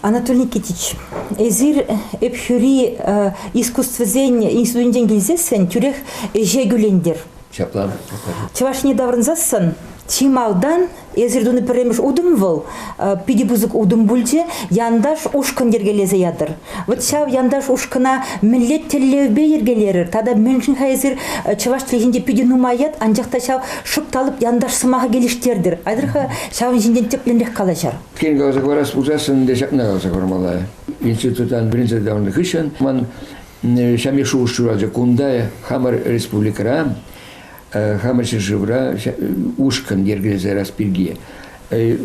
Анатолий Никитич, эсир Ӗпхӳри искусствӑсен институтӗнчен килсессӗн тӳрех ӗҫе кӳлентӗр. Ҫапла, Чӑвашне таврӑнсассӑн чи малтан эсир тунӑ пӗрремӗш утӑм вӑл питӗ пысӑк утӑм пулчӗ. Янташ ушкӑн йӗркелесе ятӑр. Вот ҫав янташ ушкӑна мӗнле тӗллевпе йӗркелерӗр тата мӗншӗн-ха эсир э, чӑваш чӗлхинче питӗ нумаят, анчах та ҫав шӑпталӑк янташ сӑмаха келӗштертӗр. Айтӑр-ха ҫавӑн ҫинчен тӗплӗнрех калаҫар. Тен каласа хӑварас пулсассӑн те ҫакна каласа хӑвармалла. Институттан вӗренсе таврӑннӑ хыҫҫӑн ман ҫамрӑк шухӑш ҫуралчӗ кунта, хамӑр республикӑра хамӑр ҫӗршывра ушкӑн йӗркелесе ярас пирки.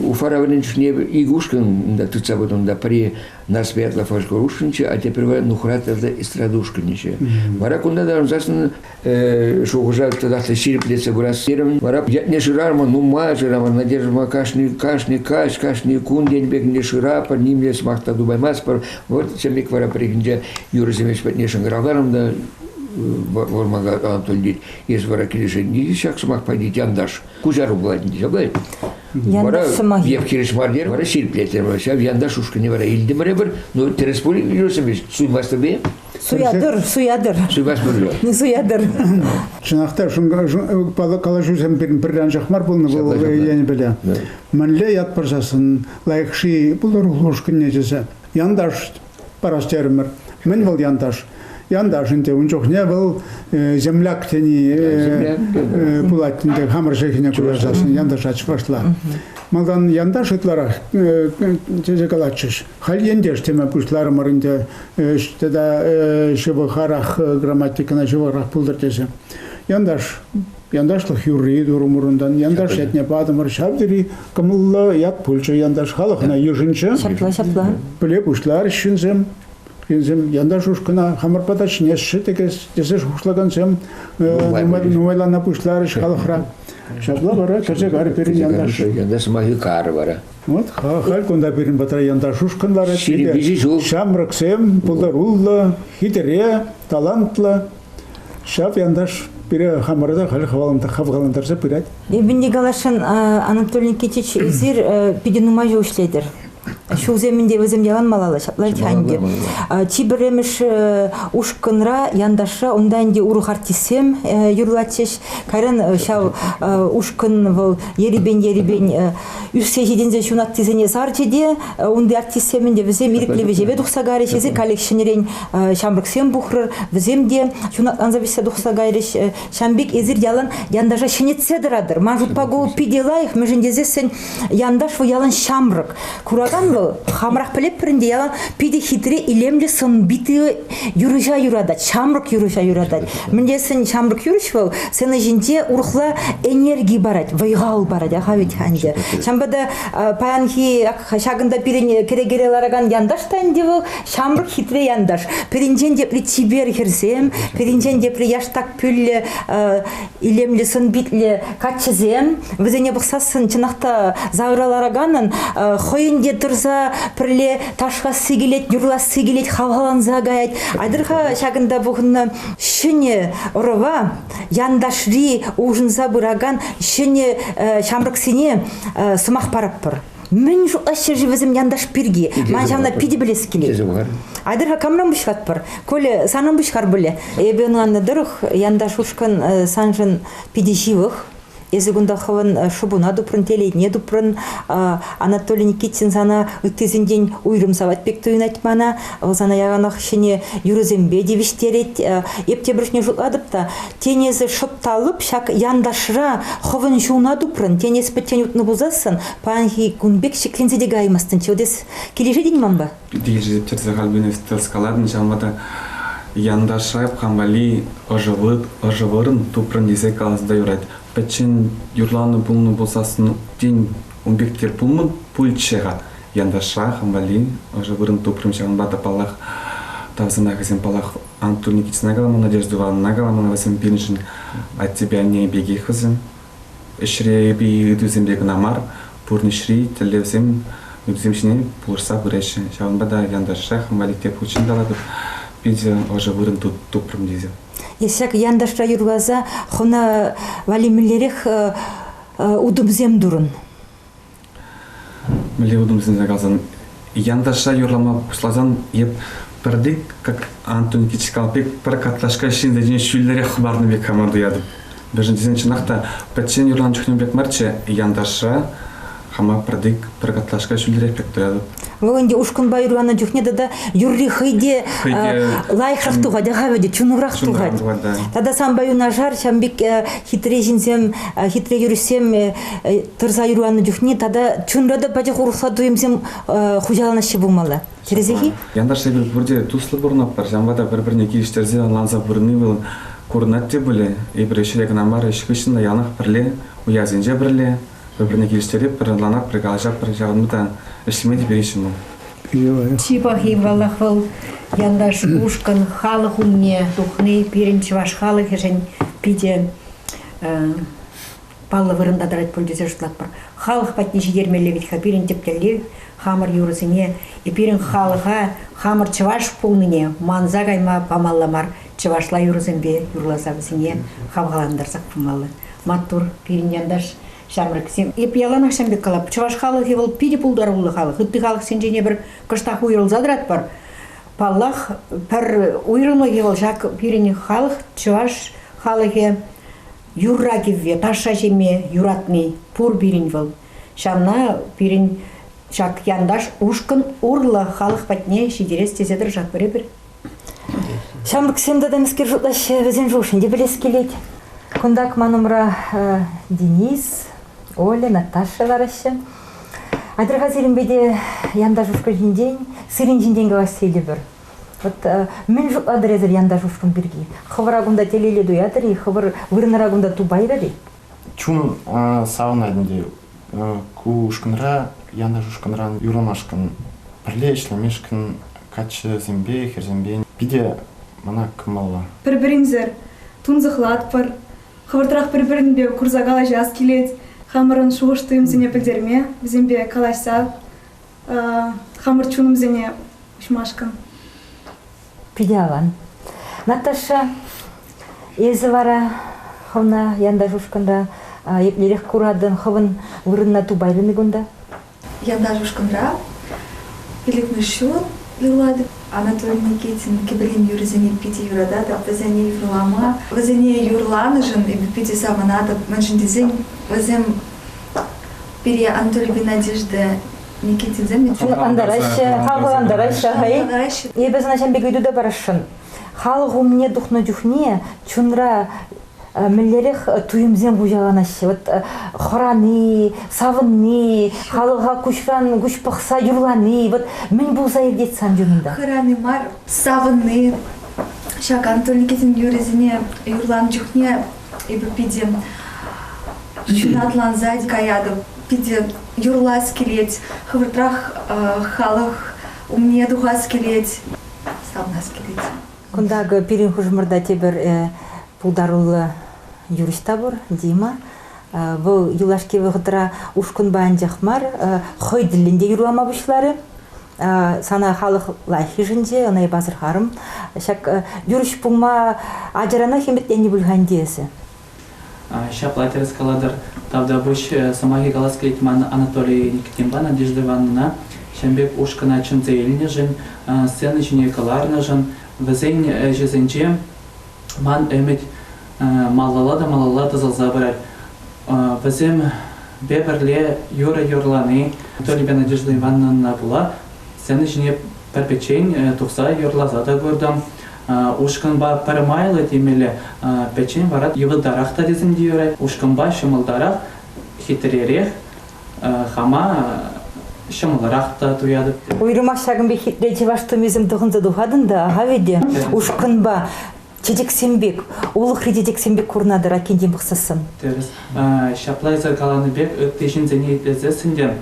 Уфа районӗн чухне икӗ ушкӑн унта тытса пынӑ. Унта пӗри Нарспиятлӑ фольклор ушкӑнччӗ, а тепӗр вара Нухратовлӑ эстрада ушкӑнӗччӗ. Вара кунта та ӑнсассӑн шухӑша татах та ҫирӗплетсе пырас терӗм. Вара ятне шырамӑн, нумай шырамӑн, надеждӑма кашни, кашни каҫ, кашни кун тенӗ пек шыратпӑр, нимле сӑмах та тупаймастпӑр. Вот чӗлик вара пӗррехинче юрӑсемеш патне шӑнкӑравларӑм та Вӑрманта Анатолий тет, эс вара килӗшетӗн тет, ҫак сӑмахпа тет янташ. Куҫару пулать тет. Вара я хирӗҫ мар терӗ, вара ҫирӗплетрӗ. Ҫав янташ ушкӑнне вара илтӗмӗр эпир. Ну, тӗрӗс пуль, юрсемеш, суймастӑр бе? Суятӑр, суятӑр. Суймастӑр же. Не суятӑр. Чӑнах та шунка калаҫусем пӗр анчах мар пулнӑ вӑл енӗпе Мӗнле ят пырсассӑн лайӑх ши пулӑр ушкӑнне тесе. Янташ парас терӗмӗр. Мӗн вӑл янташ? Янташ ӗнтӗ ун чухне вӑл земляк тени пулать ӗнтӗ хамӑр чӗлхене куҫарсассӑн янташа чӑвашла. Малтан янташ ытларах тесе калатчӗҫ. Халь ентеш теме пуҫларӑмӑр ӗнтӗ тата ҫывӑхарах грамматикӑна ҫывӑхрах пултӑр тесе. Янташ Янташлӑх юрри турӑмӑрунтан янташ ятне патӑмӑр. Ҫав тери кӑмӑллӑ ят пулчӗ янташ халӑхна йышӑнчӗ. Ҫапла, ҫапла. Пӗле пуҫларӗҫ ҫынсем. Ҫынсем янташ ушкӑна хамӑрпа та чӗнесшӗ тӗкес тесе шухӑшлакансем нумайлана пуҫларӗҫ халӑхра. Ҫапла вара кӗрсе карӗ пирӗн янташ. Янташ сӑмахӗ кар вара. Вот халь кунта пирӗн патра янташ ушкӑн ларать. Ҫирӗппиҫи ҫук. Ҫамрӑксем пултаруллӑ, хитре, талантлӑ. Ҫав янташ пире хамӑрта халь хавхалантарса пырать. Эпӗ Николашӑн Анатолий Никитич, эсир питӗ нумай ҫул ӗҫлетӗр. Ҫулсем ӗнтӗ вӗсем ялан малалла ҫатлаҫҫӗ ӗнтӗ. Чи пӗрремӗш ушкӑнра, янташра, унта ӗнтӗ урӑх артистсем юрлатчӗҫ. Кайран ҫав ушкӑн вӑл ерипен-ерипен Ӳссе ҫитӗнсе ҫунаттисене сарчӗ те э, унти артистсем ӗнтӗ вӗсем ирӗклӗ вӗҫеве тухса кайрӗҫ тесе каллех э, ҫамрӑксем пухрӑр вӗсем те ҫунатланса вӗҫсе тухса кайрӗҫ э, ҫамбик эсир ялан янташа ҫӗнетсе тӑратӑр ман шутпа ку питӗ лайӑх мӗншӗн тесессӗн янташ вӑл ялан ҫамрӑк куракан вӑл хамӑрах пӗлетпӗр ӗнтӗ ялан питӗ хитре илемлӗ сӑн-питлӗ юрӑҫа юратать, ҫамрӑк юрӑҫа юратать. Мӗн тесен ҫамрӑк юрӑҫ вӑл сцена ҫинче урӑхла энерги парать, вӑй-хал парать, аха вӗт ӗнтӗ. Ҫавӑнпа та паянхи ҫакӑнта пирӗн кӗрекере ларакан янташ та ӗнтӗ вӑл ҫамрӑк хитре янташ. Пирӗнчен тепри чипер хӗрсем, пирӗнчен тепри яштак пӳллӗ илемлӗ сӑн-питлӗ каччӑсем вӗсене пӑхсассӑн чӑнах та завра лараканӑн хӑйӗн те тӑрса пӗрле ташкасси килет юрласси килет хавхаланса каять айтӑр-ха ҫакӑнта пухӑннӑ ҫӗнӗ ӑрӑва янташри улшӑнса пыракан ҫӗнӗ ҫамрӑксене сӑмах парӑппӑр Мӗн шутлаҫ ҫӗршывӗсем янташ пирки? Ман ҫавна питӗ пӗлес килет. Айтӑр-ха камран пуҫлатпӑр? Коля, санран пуҫлар пулӗ. Эпӗ ӑнланнӑ тӑрӑх, янташ ушкӑн саншӑн питӗ ҫывӑх. Эсӗ кунта хӑвӑн шӑпуна тупрӑн, телейне тупрӑн. Анатолий Никитин сана ыттисенчен уйрӑм савать пек туйӑнать мана. Вӑл сана яланах ҫӗнӗ юрӑсемпе тивӗҫтерет. Эп тепӗршне шутлатӑп та, Тен, эсӗ шӑп та лӑп ҫак янташра хӑвӑн ҫулна тупрӑн, тен, эс пӗччен утнӑ пулсассӑн паянхи кун пек ҫӗкленсе те каймастӑнччӗ. Эс килӗшетӗн манпа? Килӗшеттерсе Альбинов тӑрскалатӑн, ҫавӑнпа та янташра кам валли ӑшӑ вырӑн тупрӑн тесе калас та юрать. Пӗччен юрланӑ пулнӑ пулсассӑн, тен, ун пек те пулман пулчӗ-ха. Янташра хам валли ӑшӑ вырӑн тупрӑм, ҫавӑнпа та, паллах, тав сӑмахӗсем, паллах, Анатолий Никитина каламан, Надежда Ивановна каламан вӗсем пирӗншӗн. Аттепе анне пекех вӗсем. Ӗҫре эпӗ ыйтусемпе кӑна мар, пурнӑҫри тӗллевсем, ыйтусем ҫине пулӑшса пыраҫҫӗ. Ҫавӑнпа та янташрах инвалид те пуличчен калатӑп, пенсие ӑшӑ вырӑн тупрӑм тесе. Исак янташра юрласа хӑна валли мӗнлерех утӑмсем турӑн? мӗнле утӑм сӗнсе калсан янташа юрлама пуҫласан эп пӗрде как Антон Кичкал пек пӗр картлашка ҫынсенчен ҫӳллӗрех хӑпарнӑ пек хамар туятӑп даже тесен чӑнах та пӗччен юрланӑ чухне пек марччӗ янташа хама пӗрдек пӗр картлашка ҫӳллӗрех пек туятӑп вӑл ӗнтӗ ушкӑнпа юрланӑ чухне тата юрри хӑй те лайӑхрах тухать ахавӗ те чунурах тухать тата санпа юнашар ҫавӑн пек хитре ҫынсем хитре юрӑҫсем тӑрса юрланӑ чухне тата чунра та пачах урӑхла туйӑмсем хуҫаланаҫҫӗ пулмалла. Тӗрӗсех-и? Янташсемпе пурте туслӑ пурӑнатпӑр, ҫавӑнпа та пӗр-пӗрне килӗштерсе ӑнланса пурӑнни вӑл курӑнать те пулӗ. Эпир ӗҫре кӑна мар, ӗҫ хыҫҫӑн та яланах пӗрле, уявсенче пӗрле, пӗр-пӗрне килӗштеретпӗр, ӑнланатпӑр, калаҫатпӑр, ҫавӑнпа та ӗҫлеме те переҫҫӗ вӑл. Чи пахи паллах вӑл янташ ушкӑн халӑх умне тухни пирӗн чӑваш халӑхӗшӗн питӗ паллӑ вырӑнта тӑрать пуль тесе шутлатпӑр. Халӑх патне ҫитермелле вӗт-ха пирӗн тӗп тӗллев хамӑр юрӑсене, пирӗн халӑха хамӑр чӑваш пулнине манса кайма памалла мар, чӑвашла юрӑсемпе юрласа вӗсене хавхалантарсах пымалла. Маттур, пирӗн янташ ҫамрӑксем. Эп яланах ҫавӑн пек калап, чӑваш халӑхӗ вӑл питӗ пултаруллӑ халӑх, ытти халӑхсенчен пӗр кӑштах уйрӑлса тӑратпӑр. Паллах, пӗр уйрӑмлӑхӗ вӑл ҫак пирӗн халӑх, чӑваш халӑхӗ юрра-кӗвве, ташша ҫиме юратни пур пирӗн вӑл. Ҫавна пирӗн ҫак янташ ушкӑн урлӑ халӑх патне ҫитерес тесе тӑрӑшатпӑр эпир. Ҫамрӑксем тытӑмскер шутлаҫҫӗ, вӗсен шухӑшне те пӗлес килет. Кунтах ман умра Денис, Оля, Наташа лараҫҫӗ. Атьӑр-ха сирӗнпе те янташ ушкӑн ҫинчен, сирӗн ҫинчен калаҫса илӗпӗр. Вот э, мӗн шутлатӑр эсир янташ ушкӑн пирки? Хӑвӑра кунта телейле туятӑр-и? Хӑвӑр вырӑнӑра кунта тупайрӑр-и? Чунӑм савӑнать ӗнтӗ. Ку ушкӑнра, янташ ушкӑнран юрламашкӑн, пӗрле ӗҫлемешкӗн каччӑсемпе хӗрсемпе питӗ мана кӑмӑллӑ. Пӗр-пӗринсӗр тунсӑхлатпӑр. Хӑвӑртрах пӗр-пӗринпе курса калаҫас килет. Хамӑрӑн шухӑш-туйӑмсене пӗлтерме, вӗсемпе калаҫса хамӑр чунӑмсене уҫмашкӑн. Питӗ аван. Наташа, эсӗ вара хӑвна янташ ушкӑнра еплерех куратӑн, хӑвӑн вырӑнна тупаймӗ кунта? Янташ ушкӑнра пилӗкмӗш ҫул юрлать. Анатолий Никитин кӗперен юрӑсене питӗ юрататӑп, вӗсене юрлама, вӗсене юрланӑшӑн эпӗ питӗ савӑнатӑп, мӗншӗн тесен вӗсем Пире Анатолий Геннадьевич те Никитинсем ӑнтараҫҫӗ, хавхалантараҫҫӗ хӑй. Эпӗ сана ҫын пек ыйту та парасшӑн. Халӑх умне тухнӑ чухне чунра Э, мӗнлерех э, туйӑмсем хуҫаланаҫҫӗ вот э, хӑрани савӑнни халӑха куҫран куҫ пӑхса юрлани вот мӗн пулса иртет сан чунунта хӑрани мар савӑнни ҫак Антон Никитин юррисене юрланӑ чухне эпӗ питӗ ҫунатлансать каятӑп, питӗ юрлас килет, хӑвӑртрах халӑх умне тухас килет, савнас килет. Кунта пирӗн хушӑмӑрта тепӗр пултаруллӑ юрист та пур, Дима. Вӑл юлашки вӑхӑтра ушкӑнпа анчах мар, хӑй тӗллӗн те юрлама пуҫларӗ. Сана халӑх лайӑххишӗнче ӑна пасӑрхарӑм. Ҫак юрӑҫ пулма ачаранах ӗмӗтленнӗ пуль-ха ӗнтӗ эсӗ. Ҫапла тӗрӗс калатӑр. Тавтапуҫ сӑмахӗ калас килет ман Анатолий Никитинпа Надежда Ивановнӑна. Ҫын пек ушкӑна чӗнсе илнӗшӗн, сцена ҫине кӑларнӑшӑн, вӗсен ӗҫӗсенче Ман ӗмӗт малалла та малалла тӑсӑлса пырать. Вӗсемпе пӗрле юрӑ юрлани Анатолийпе Надежда Ивановна пула сцена ҫине пӗрпечен тухса юрласа та куртӑм. Ушкӑнпа пӗр майлӑ темелле, пӗччен вара йывӑртарах та тесем те юрать. Ушкӑнпа ҫӑмӑлтарах, хитререх. хама ҫӑмӑлрах та туятӑп. Уйрӑмах ҫакӑн пек хитре чӑваш тумӗсем тӑхӑнса тухатӑн та ахавӗ те ушкӑнпа чечексем пек, улӑхри чечексем пек курӑнатӑр аккинчен пӑхсассӑн. Тӗрӗс. Ҫапла эсӗ каланӑ пек ытти ҫынсене итлесессӗн те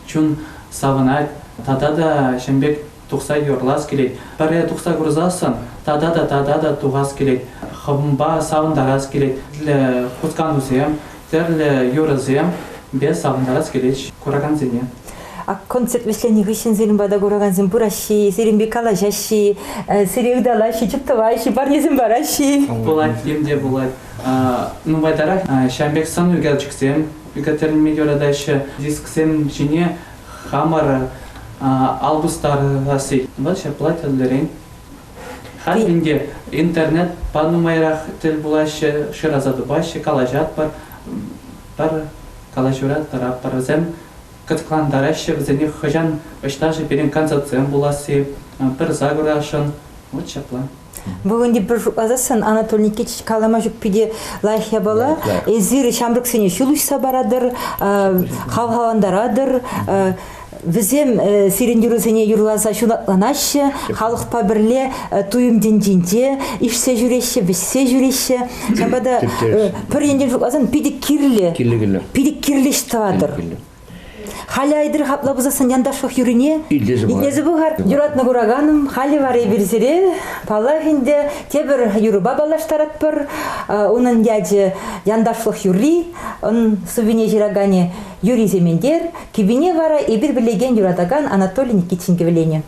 чун савӑнать тата та ҫын пек тухса юрлас килет, пӗрре тухса курсассӑн тата та тата та тухас килет, хӑвӑнпа савӑнтарас килет. Тӗрлӗ хусканусем, тӗрлӗ юрӑсемпе савӑнтарас килет куракансене. А концерт вӗҫленӗ хыҫҫӑн сирӗн пата куракансем пыраҫҫӗ, сирӗн пек калаҫаҫҫӗ, сире ыталаҫҫӗ, тӗп тӑваҫҫӗ, парнесем параҫҫӗ. Пулать, им те пулать. Нумайтарах ҫавӑн пек сӑн ӳкерчӗксем ӳкертерме юратаҫҫӗ. Дисксем ҫине хамӑра ал пустарасси. Вӑл ҫапла тӗллӗрен. Халь ӗнтӗ интернет панӑ майрах тӗл пулаҫҫӗ, шыраса тупаҫҫӗ, калаҫатпӑр. Пӗр калаҫура тӑрапӑрсем кӑткӑлантараҫҫӗ вӗсене хӑҫан ӑҫта-ши пирӗн концертсем пуласси, пырса курасшӑн. Вот ҫапла. Бүгінде пӗр шутласассӑн Анатолий Никитич калама ҫукпи те лайӑх япала. Эсир ҫамрӑксене ҫул уҫса паратӑр, хавхалантаратӑр. Вӗсем сирӗн юрӑсене юрласа ҫунатланаҫҫӗ, халӑхпа пӗрле туйӑм тӗнчинче ишсе ҫӳреҫҫӗ, вӗҫсе ҫӳреҫҫӗ. Ҫапа та пӗр енчен шутласан питӗ кирлӗ, питӗ кирлӗ ӗҫ тӑватӑр. Халӗ айтӑр хапла пусассӑн янташлӑх юрине итлесе пӑхар. Юратнӑ кураканӑм, халӗ вара эпир сире паллах ӗнтӗ тепӗр юрӑпа паллаштаратпӑр. Унӑн ячӗ Янташлӑх юрри, ун сувене ҫыраканӗ Юрий Сементер, кӗпине вара эпир пӗлекен юратакан Анатолий Никитин кӗвӗленӗ.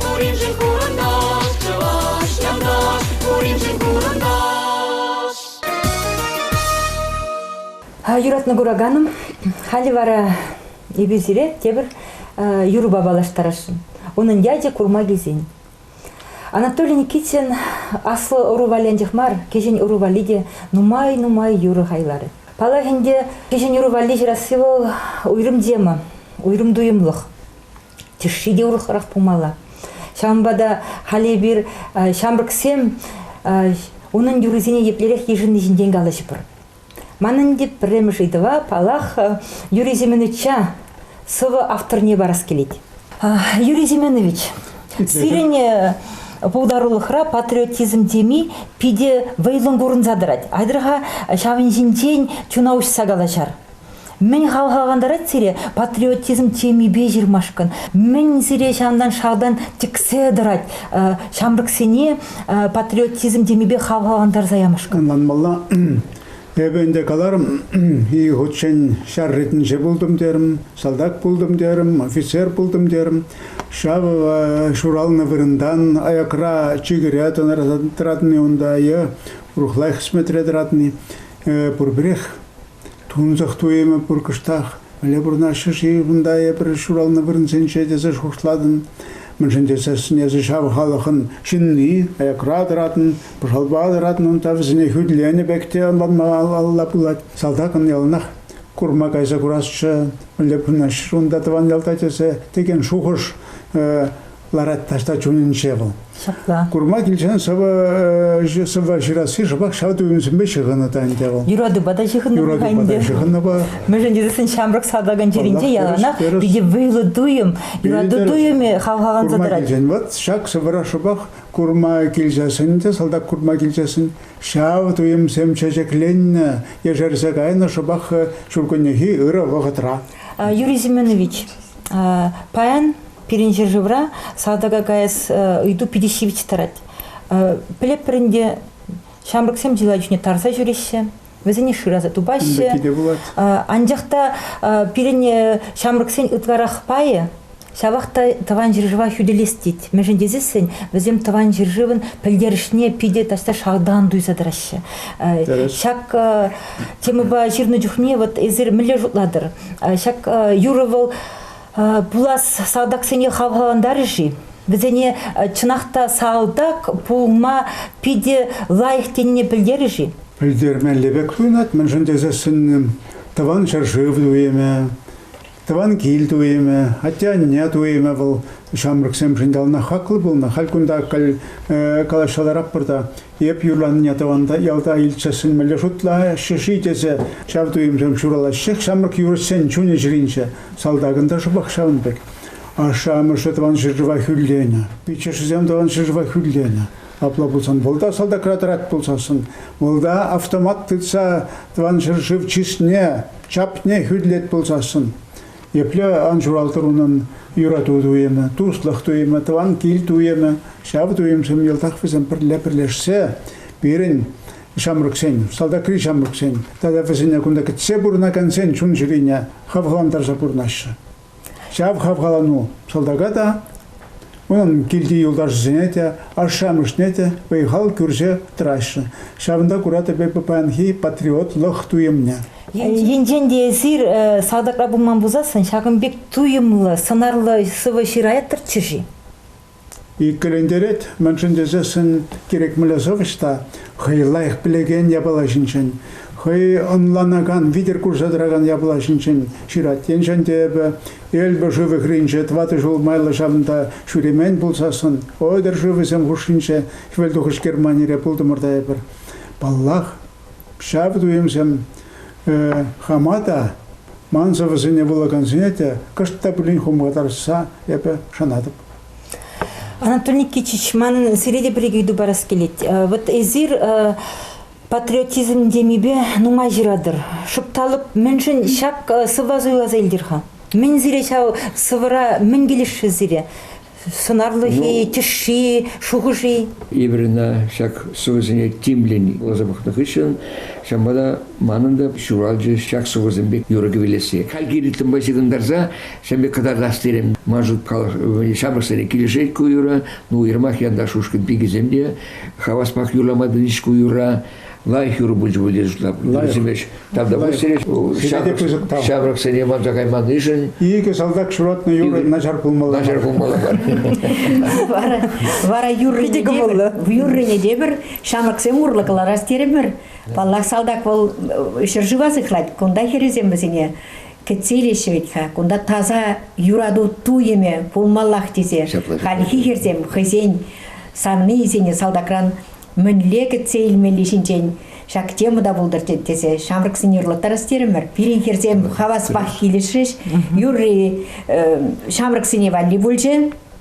Пуриншӗн курӑнташ, чӑваш янташ, пуриншӗн курӑнташ. Юратнӑ кураканӑм, халӗ вара эпир сире тепӗр юрӑпа паллаштарасшӑн. Унӑн ячӗ курма килсен. Анатолий Никитин аслӑ ӑру валлианчах мар, кӗҫӗн ӑру валли те нумай-нумай юрӑ хайларӗ. Паллах ӗнтӗ, кӗҫӗн ӑру валли ҫырасси вӑл уйрӑм тема, уйрӑм туйӑмлӑх. тӗшши те урӑхрах пулмалла. Ҫавӑнпа та халь эпир ҫамрӑксем унӑн юррисене еплерех йышӑнни ҫинчен калаҫӑпӑр. Манӑн те пӗрремӗш ыйтӑва, паллах, Юрий Семеновича сӑвӑ авторне парас килет. Юрий Семенович, сирӗн пултарулӑхра патриотизм теми питӗ вӑйлӑн курӑнса тӑрать. Айтӑр-ха ҫавӑн ҫинчен чуна уҫса калаҫар. Мӗн хавхалантарать сире патриотизм темипе ҫырмашкӑн? Мӗн сире ҫантан шалтан тӗксе тӑрать ҫамрӑксене патриотизм темипе хавхалантарса ямашкӑн? Манмалла, эпӗ ӗнтӗ каларӑм, икӗ хутчен ҫар ретӗнче пултӑм терӗм, салтак пултӑм терӗм, офицер пултӑм терӗм. Ҫавӑ ҫуралнӑ вырӑнтан аякра чикӗре тӑратни унта е урӑхла хӗсметре тӑратни пурпӗрех Тунсӑх туйӑмӗ пур кӑштах. Мӗнле пурӑнаҫҫӗ-ши кунта эпир ҫуралнӑ вырӑнсенче тесе шухӑшлатӑн. Мӗншӗн тесен эсӗ ҫав халӑхӑн ҫынни, аякра тӑратӑн, пӑшалпа тӑратӑн унта вӗсене хӳтӗленӗ пек те ӑнланмалла пулать. Салтакӑн яланах курма кайса курасчӗ, мӗнле пурӑнаҫҫӗ унта тӑван ялта тесе текен шухӑш ларать таҫта чунӗнче вӑл. Ҫапла. Курма килсен сӑвӑ ҫырасси шӑпах ҫав туйӑмсемпе ҫыхӑннӑ та ӗнтӗ вӑл. Юратупа та ҫыхӑннӑ. Юратупа та ҫыхӑннӑпа. Мӗншӗн тесен ҫамрӑк салтакӑн чӗринче яланах питӗ вӑйлӑ туйӑм, юрату туйӑмӗ хавхаланса тӑрать. Вот ҫак сӑвӑра шӑпах курма килсессӗн те салтак курма килсессӗн ҫав туйӑмсем чечекленнӗ, ешерсе кайнӑ шӑпах ҫуркуннехи ырӑ вӑхӑтра. Юрий Семенович, паян Пирӗн ҫӗршывра салтака каяс ыйту питӗ ҫивӗч тӑрать. Пӗлеппӗр ӗнтӗ, ҫамрӑксем чылай чухне тарса ҫӳреҫҫӗ, вӗсене шыраса тупаҫҫӗ. Анчах та пирӗн ҫамрӑксен ытларах пайӗ ҫавах та тӑван ҫӗршыва хӳтӗлес тет. Мӗншӗн тесессӗн вӗсем тӑван ҫӗршывӑн пӗлтерӗшне питӗ таҫта шалтан туйса тӑраҫҫӗ. Ҫак темӑпа ҫырнӑ чухне вот эсир мӗнле шутлатӑр? Ҫак юрӑ вӑл Пулас салтаксене хавхалантарӗ-ши? Вӗсене чӑнах та салтак пулма питӗ лайӑх тенине пӗлтерӗ-ши? Пӗлтермелле пек туйӑнать, мӗншӗн тесессӗн тӑван ҫӗршыв туйӑмӗ, тӑван кил туйӑмӗ, атте-анне туйӑмӗ вӑл ҫамрӑксемшӗн яланах хаклӑ пулнӑ. Халь кунта калаҫса ларатпӑр та Эп юрланине тӑванта ялта илтсе сӗнмелле шутла шиши тесе ҫав туйӑмсем ҫуралаҫҫех ҫамрӑк юрӑҫсен чунӗ чӗринче. Салтакӑн та шӑпах ҫавӑн пек. Ашшӗ-амӑшӗ тӑван ҫӗршыва хӳрленӗ, пиччӗшӗсем тӑван ҫӗршыва хӳрленӗ. Апла пулсан вӑлта салтакра тӑрать пулсассӑн, вӑлта автомат тытса тӑван ҫӗршыв чысне, чапне хӳрлет пулсассӑн, Епле ан ҫуралтӑр унӑн юрату туйӑмӗ, туслӑх туйӑмӗ, тӑван кил туйӑмӗ, ҫав туйӑмсем йӑлтах вӗсем пӗрле пӗрлешсе пирӗн ҫамрӑксен, салтакри ҫамрӑксен тата вӗсене кунта кӗтсе пурӑнакансен чун-чӗрине хавхалантарса пурӑнаҫҫӗ. Ҫав хавхалану салтака та, Унӑн килти юлташӗсене те, ашшӗ-амӑшне те вӑй-хал кӳрсе тӑраҫҫӗ. Ҫавӑнта куратӑп эпӗ паянхи патриотлӑх туйӑмне. Енчен те эсир салтакра пулман пулсассӑн ҫакӑн пек туйӑмлӑ, сӑнарлӑ сӑвӑ ҫыраяттӑрччӗ-ши? Иккӗлентерет, мӗншӗн тесессӗн кирек мӗнле сӑвӑҫ та хӑй лайӑх пӗлекен япала ҫинчен, хӑй ӑнланакан, витӗр курса тӑракан япала ҫинчен ҫырать. Енчен те эпӗ Эльба шывӗхринче тӑватӑ ҫул майлӑ ҫавӑнта ҫӳремен пулсассӑн Ойдер шывӗсем хушшинче хӗвелтухӑҫ Германире пултӑмӑр та эпир. Паллах, ҫав туйӑмсем э, хама та, ман сӑвӑсене вулакансене те кӑшт та пулин хумхатарса эпӗ шанатӑп. Анатолий Никитич, манӑн сире те пӗр икӗ ыйту парас килет. Э, вот эсир э, Патриотизм темипе нумай ҫыратӑр. Шупталӑп, мӗншӗн ҫак сӑвва суйласа илтӗр-ха? Мӗн сире ҫав сӑвӑра мӗн килӗшрӗ сире? Сӑнарлӑхи, ну, тӗшши, шухӑши? Эпир ҫак сӑвӑсене тимлӗн вуласа пӑхнӑ хыҫҫӑн ҫавӑнпа та манӑн та ҫуралчӗ ҫак сӑвӑсем пек юрӑ кӗвӗлесси. Хальхи ритмпа ҫыхӑнтарса ҫавӑн пек кӑтартас терем. Ман шут ҫамрӑксене килӗшет ку юрӑ. Ну, уйрӑмах янташ ушкӑн пикисем те Хаваспах юрлама тытӑнчӗ ку юрра. Лайӑх юрӑ пулчӗ bu тесе шутлатӑп. Тавтапуҫ сире ҫамрӑксене манса кайманишӗн. Икӗ салтак ҫуратнӑ юрӑ начар пулмалла. Начар пулмалла. Вара юррине те пӗр ҫамрӑксем урлӑ кӑларас терӗмӗр. Паллах, салтак вӑл ҫӗршыва сыхлать. Кунта хӗрӗсем вӗсене Кӗтселӗ ҫӗвет-ха, кунта таса юрату туйӑмӗ пулмаллах тесе хальхи хӗрсем хӑйсен савнийӗсене салтакран мӗнле кӗтсе илмелли ҫинчен ҫак тема та пултӑр тесе ҫамрӑксене ырлаттарас терӗмӗр. Пирӗн хӗрсем хаваспах килӗшрӗҫ. Юрри ҫамрӑксене валли пулчӗ.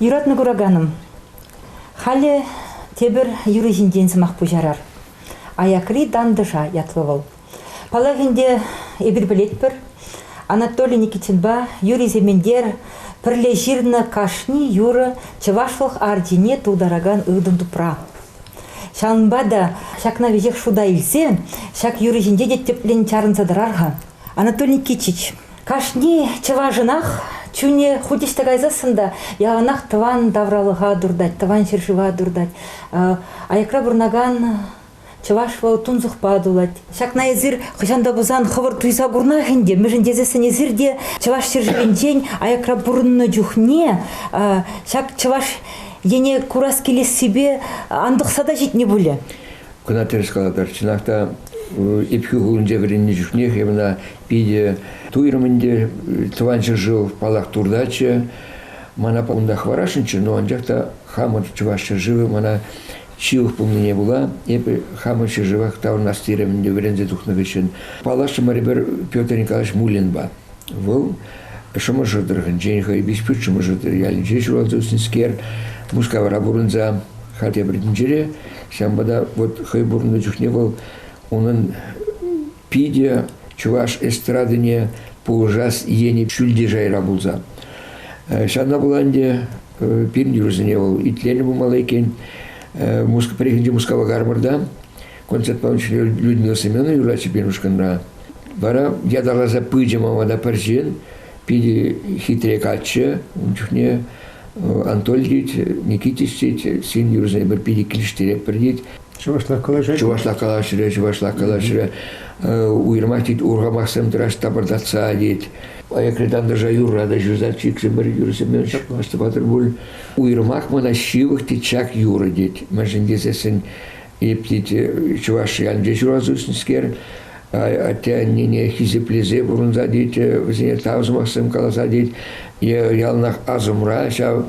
Юратнӑ кураканӑм, халӗ тепӗр юрӑ ҫинчен сӑмах пуҫарар. Аякри тантӑша ятлӑ вӑл. Паллах ӗнтӗ, эпир пӗлетпӗр, Анатолий Никитинпа Юрий Сементер пӗрле ҫырнӑ кашни юрӑ чӑвашлӑх арчине тултаракан ыртӑн тупра. Ҫавӑнпа та ҫакна веҫех шута илсе ҫак юрӑ ҫинче те тӗплӗн чарӑнса тӑрар-ха. Анатолий Никитич, кашни чӑвашӑнах чунӗ хуть ӑҫта кайсассӑн та яланах тӑван тавралӑха туртать, тӑван ҫӗршыва туртать. Аякра пурӑнакан чӑваш вӑл тунсӑхпа тулать. Ҫакна эсир хӑҫан та пулсан хӑвӑр туйса курнах ӗнтӗ, мӗншӗн тесессӗн эсир те Чӑваш ҫӗршывӗнчен аякра пурӑннӑ чухне ҫак чӑваш ене курас килессипе антӑхса та ҫитнӗ пулӗ. Кӑна тӗрӗс калатӑр, чӑнах та Епхӳ хулинче вӗреннӗ чухнех мана питӗ туйрӑм ӗнтӗ, тӑван ҫӗршыв паллах туртатчӗ. Мана унта хӑварасшӑнччӗ, но анчах та хамӑр чӑваш ҫӗршывӗ мана ҫывӑх пулнине пула эпӗ хамӑр ҫӗршывах таврӑнас терӗм ӗнтӗ вӗренсе тухнӑ хыҫҫӑн. Паллашрӑмӑр эпир Петр Николаевич Муллинпа. Вӑл Шӑмӑршӑ тӑрӑхӗнчен хӑй Пишпӳрт Шӑмӑршӑ ялӗнче ҫуралса ӳснӗскер Мускавра пурӑнса хатӗр тӗнчере. Ҫавӑнпа та вот хӑй пурӑннӑ чухне вӑл унӑн питӗ чӑваш эстрадине пулӑшас енӗ ҫӳлти шайра пулса. Ҫавна пула ӗнтӗ пирӗн юрӑсене вӑл итленӗ пулмалла иккен. Мускав, пӗррехинче Мускава кармӑрта Концертпа Людмила Семеновна юрлатчӗ пирӗн ушкӑнра. Вара ятарласа пычӗ мама та пӗр ҫын, питӗ хитре каччӑ. Ун чухне Анатольич Никитич тет, син юрӑсене пӗр питӗ килӗштеретпӗр тет. Чӑвашла калаҫать. Чӑвашла калаҫрӗ, чӑвашла калаҫрӗ. Уйрӑмах тет, урхамахсем тӑраш тапӑртатса тет. Аякри тантӑша юрра та ҫырса чикрӗ пӗр юрсеммен ҫапмастӑп патӑр пуль. Уйрӑмах мана ҫывӑх тет ҫак юрӑ тет. Мӗншӗн тесессӗн Эпти чӑваш ялӗнче ҫуралса ӳснӗскер, атте-аннене хисеплесе пурӑнса тет, вӗсене тав сӑмахсем каласа тет. Е яланах асӑмра ҫав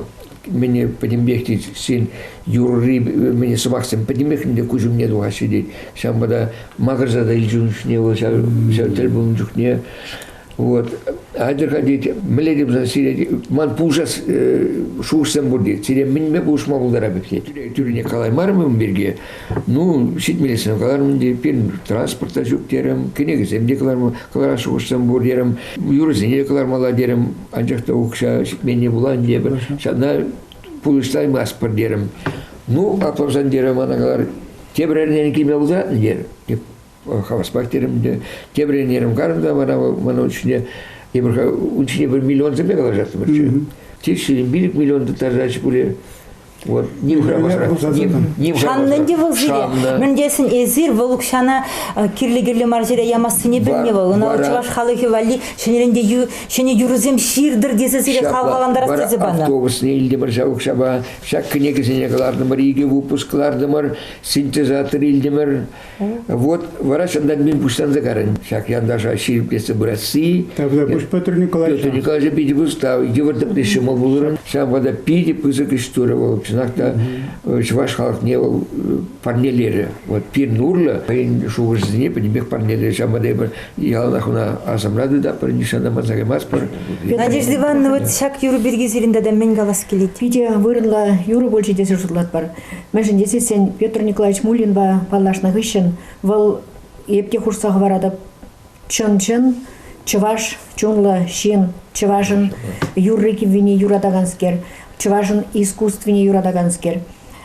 мӗне пӗтӗмпех тет, сен юрри мӗне сӑмахсем пӗтӗмпех ӗнтӗ куҫ умне тухаҫҫӗ тет. Ҫавӑнпа та макӑрса та илчун чухне вӑл ҫав, ҫав тӗл пулнӑ чухне Вот, хатӗр ходить, мӗнле те пулсан сире, ман пулӑша шухӑшсем пур тет, сире мӗнме пулӑшма пултарап тет. Тӳрене калаймарӑм ун пирки, ну, ҫитмелесем калармын те, пирӗн транспорта ҫук терем, кӗнекесем те кӑларма, кӑларас шухӑшсем пур терем, юрӑсене те кӑлармалла терем, анчах та укҫа ҫитменне пулан тепӗр, ҫавна пулӑштаймастпӑр терем. Ну, аплӑрсан терем, ана калар, тепӗр эрнене килме пултаратӑн терӗм. хавас квартирам те тепӗр ӗнерем карӑм та мана мана ун ҫине тепӗр ун ҫине пӗр миллионсемпе калаҫаттӑмӑрччӗ. Тек сирӗн пилӗк миллион тыттарса пулӗ вот ним хӑрамасӑрах. Шаннӑн те вӑл сире. Мӗн тесен эсир вӑл укҫана кирлӗ-кирлӗ мар ҫӗре ямассине белме вӑл. Ӑна чӑваш халӑхӗ валли ҫӗнӗрен ҫӗнӗ юрӑсем ҫыртӑр тесе сире хавхалантарас тесе панӑ. Автобусне илтӗмӗр ҫав укҫапа. Ҫак кӗнекесене кӑлартӑмӑр, икӗ выпуск кӑлартӑмӑр, синтезатор илтӗмӗр. Вот врач ӑнта мӗн пуҫланса карӑн. Ҫак янташа ҫирӗплетсе пырасси. Тогда пусть Петр Николаевич. Петр Николаевич питӗ пустав, йывӑртӑкне ҫӑмӑл пулӑрӑн. Ҫавӑнпа та питӗ пысӑк ӗҫ турӗ вӑл. Чӑнах та чӑваш халӑхне вӑл парнелерӗ. Вот пирӗн урлӑ хӑйӗн шухӑшӗсене пӗтӗмпех парнелерӗ. Ҫавӑнпа та эпир яланах ӑна асамлатӑр та пӗр нихҫан манса каймастпӑр. Надежда Ивановна, вот ҫак юрӑ пирки сирӗн тата мӗн калас килет? Питӗ вырӑнлӑ юрӑ пулчӗ тесе шутлатпӑр. Мӗншӗн тесен Петр Николаевич Муллинпа паллашнӑ хыҫҫӑн вӑл эп те хушса хӑваратӑп чӑн-чӑн чӑваш чунлӑ ҫын, чӑвашӑн юрри-кӗввине юратаканскер, чӑвашӑн искусствине юратаканскер.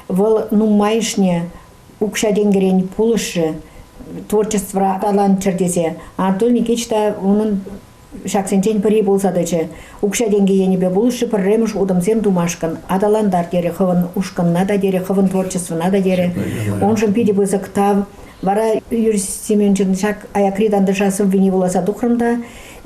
Вӑл нумайӑшне укҫа-тенкӗрен пулӑшрӗ, творчествӑра аталанччӑр тесе. Анатолий Никитич та унӑн ҫаксенчен пӗри пулса тӑчӗ. Укҫа-тенкӗ енӗпе пулӑшши пӗрремӗш утӑмсем тумашкӑн аталантар терӗ хӑвӑн ушкӑнна та терӗ, хӑвӑн творчествӑна та терӗ. Уншӑн питӗ пысӑк тав. Вара Юрий Семеновичӑн ҫак аякри тантӑша сӑввине вуласа тухрӑм та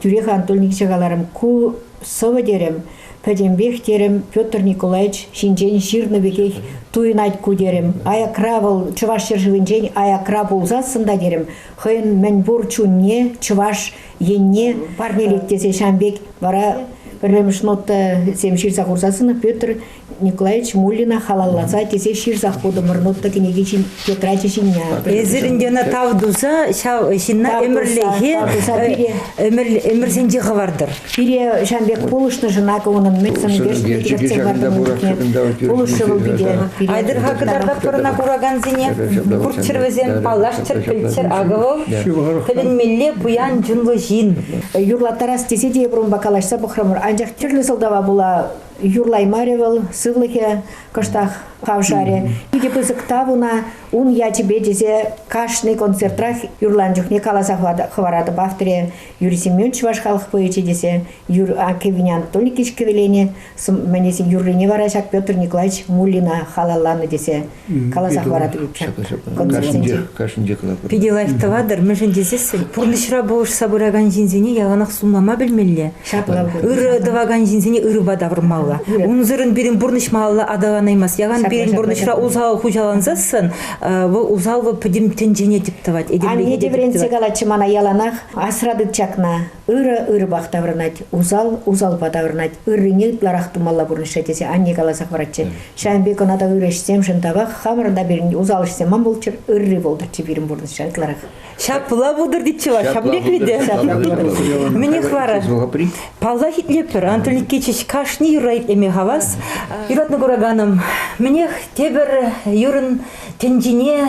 тӳрех Анатольевича каларӑм, ку сӑвӑ терӗм, пӗтӗмпех терӗм, Петр Николаевич ҫинчен ҫырнӑ пекех туйӑнать ку терӗм. Аякра вӑл Чӑваш ҫӗршывӗнчен аякра пулсассӑн та терӗм, хӑйӗн мӗн пур чунне чӑваш енне парнелет тесе ҫавӑн пек вара пӗрремӗш нотӑсем ҫырса хурса сынӑ Петр Николаевич Муллина халалласа тесе ҫырсах хутӑмӑр нотӑ кӗнеки ҫин тетрачӗ ҫине. Эсир ӗнтена тав туса ҫав ҫынна ӗмӗрлӗхе ӗмӗрсенче хӑвартӑр. Пире ҫавӑн пек пулӑшнӑшӑн акӑ унӑн меценатсем пулӑшрӗ вӑл пире. Айтӑр-ха кӑтартатпӑр ӑна куракансене. Курччӑр вӗсем, паллаш Тӗлпӗлтер Аговов тӗлӗнмелле пуян чунлӑ ҫын. Юрлаттарас тесе те эпир унпа калаҫса пӑхрӑмӑр, анчах тӗрлӗ сӑлтава пула юрлаймарӗ вӑл, сывлӑхӗ кӑштах хавшарӗ. Питӗ пысӑк тав ӑна ун ячӗпе тесе кашни концертрах юрланӑ чухне каласа хӑваратӑп авторе Юрий Семенович чӑваш халӑх поэчӗ тесе Юр Кевин Анатолий кӗвеленӗ мӗнесен юррине вара ҫак Петр Николаевич Муллина халалланӑ тесе каласа хӑваратӑр иккен. Кашнинче калатӑр. Питӗ лайӑх тӑватӑр, мӗншӗн тесессӗн пурнӑҫра пулӑшса пыракан ҫынсене яланах сунмама пӗлмелле. Ҫапла. Ырӑ тӑвакан ҫынсене ырӑпа тавӑрмалла. Унсӑрӑн пирӗн пурнӑҫ малалла аталанаймасть. Яхан пирӗн пурнӑҫра усал хуҫалансассӑн вӑл усал пӗтӗм тӗнчене тӗп тӑвать. Анне те вӗрентсе калатчӗ мана яланах, асра тыт ҫакна, Ырӑ ырӑпах таврӑнать, усал усалпа таврӑнать. Ыррине ытларах тумалла пурнӑҫра тесе анне каласа хӑваратчӗ. Ҫавӑн пек ӑна та ырӑ ӗҫсемшӗн тавах, хамӑрӑн та пирӗн усал ӗҫсем ан пулччӑр, ырри пултӑрччӗ пирӗн пурнӑҫра ытларах. Ҫапла пултӑр тетчӗ вӑл, ҫапла пултӑр, ҫапла пултӑр. Мӗнех вара? Паллах, итлетпӗр, Анатолий Никитич, кашни юрра итлеме хавас. Юратнӑ кураканӑм, мӗнех, тепӗр юрӑн тӗнчине